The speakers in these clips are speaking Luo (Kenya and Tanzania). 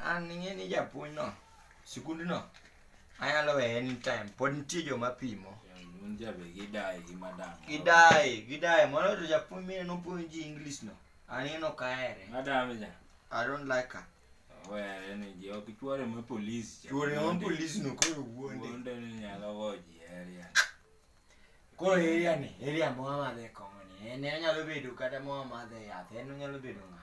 An ing'e ni japuonj no, sikund no, anyalo weye anytime. Pod nitie joma pimo. Gidaye, gidaye. Mano to japuonj mine nopuonji English no. An ing'e no kaere. Madam ja. I don't like her. Were ni ji ok chuore ma polis. Chuore ma polis no koro wuonde. Wuonde ni nyalo goji area. Koro area ni, area mwa madhe kong'o ni. En anyalo bedo kata mwa madhe yath. En onyalo bedo ng'a.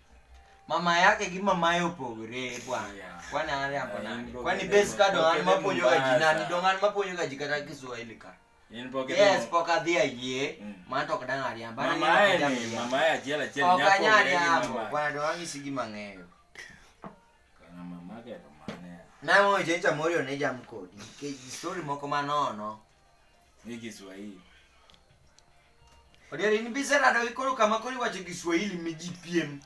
mama yake gi mamaye opogore bwana kwani an riambo nani kwani base ka dong an mapuonjoga ji nani dong an mapuonjoga ji kata kiswahili ka yes pok adhi ayie man to ok dang' ariamb An Mama ariambo en- kata mia. mama en achiel achiel ok nyako anyal ong'e gi riambo mama. bwana dong' ang'isi gima ang'eyo Kana mamake to mane. nang'oyo chencha morio ne jam kodi nikech story moko manono Ni Kiswahili. Odieri ni bisa na dogi koro kama kori wacho Kiswahili mi ji piem.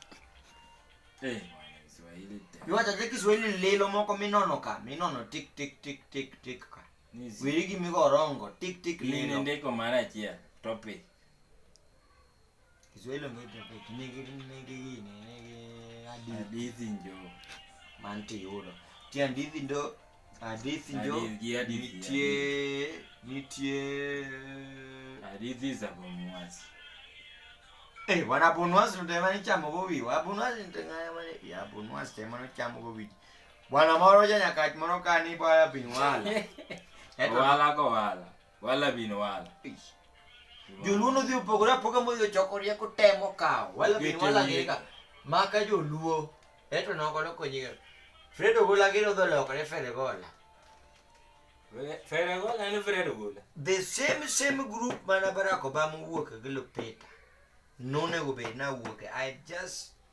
Eh, Kiswahili te. Mi wacho te Kiswahili lilo moko minono ka, minono tik tik tik tik tik ka. Ni zi- Wiri gi migo orongo tik tik Ni lilo. nende ko mara chia topic. Kiswahili ongea topic nigi nigi gini nigi hadithi. Hadithi njo. Manti yudo. Ti hadithi ndo hadithi njo. Nitie nitie hadithi za bomwasi. Eh, wana bonwasi ntemani chamo bobi. Wa bonwasi ntengaya mane. Ya bonwasi temani chamo bobi. Bwana moro ja nyakach moro kani bwana binwala. Eto wala ko wala. Wala bin wala. Joluo nodhi opogore apoga modhi ochoko rieko temo kawo. Wala bin Gete wala wiye. gika. Maka joluo. Eto nokolo konyiga. Fred Ogola gero dho lokore Fred Ogola. Fere gola ni fere gola. The same same group mana Barack Obama wuok gi Lupita. Nonego bed na wuok. I just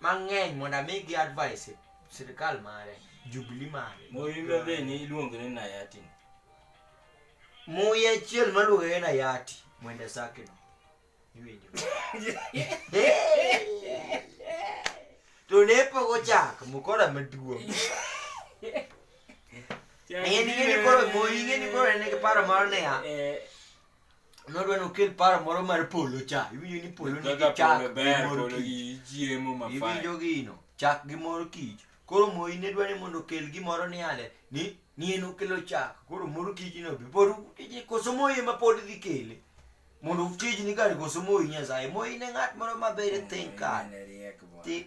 mang'eny mondo amigi advice sirikal mare jubili mare muyi mbe ni iluongo ni nayati muyi achiel maluongo ni nayati mwende saki no iwinjo to ne pok ochak mukora maduong' ing'eni koro moyi ing'eni koro en gi paro mar niya eh, nodwa nokel paro moro mar polo cha iwinjo ni polo nigi Kaka chak polo gi ber, mor polo kich. gi chiemo ma fine. iwinjo gino chak gi mor kich koro moi ne dwa ni mondo okel gimoro ni ale ni ni en okelo chak koro mor kich no be pod tije koso moi ema pod dhi kele mondo tijni kare koso moi nyasaye moi ne ng'at moro maber e think kare Riek bwana. Ti-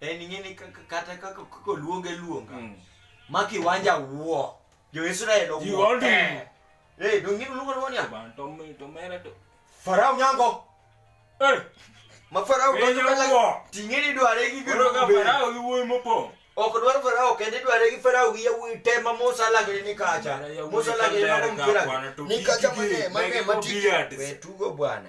en ing'eni kata kaka oluonge luonga mm. ma kiwanja wuo jo-israel owuo eh. eh, dong'in luongo luongo niya farao nyango eh. ma farao ting'eni dware gi farao gi wuoyi mopong' ok dwar farao kende dware gi farao gi yawuoyi te ma musa lagre ni kacha musa lagre ni kacha mane mane matugo bwana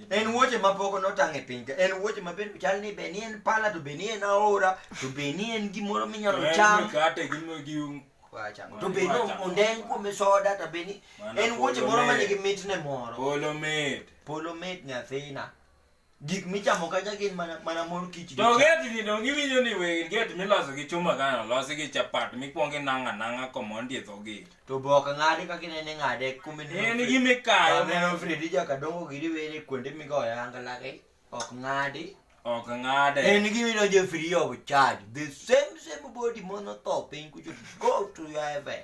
en wuoche ma pok notang' e piny ka en wuoche ma bende chal ni be ni en pala to be ni en aora to be ni en gimoro minyalo En cham mikate gi mo- gi un- Wachamo. to be ni Wachamo. ondeng kuome soda to be ni Mana en wuoche polo moro ma mit. nigi mitne moro polo mit polo mit nyathina gik michamo kacha gin mana mana mor kich gi to chak. geti ni donge iwinjo ni we geti miloso gi chuma kano losi gi chapat mikwongo inang'a nang'a komondi e dho geti to be ok ng'ade kaka inene ng'ade en gi mikayo aneno fredi jakadongo gi riwere kuonde migoyo angalagi ok ng'adi ok ng'ade en gi midonjo free of charge the same same body mono tho piny kucho go to your heaven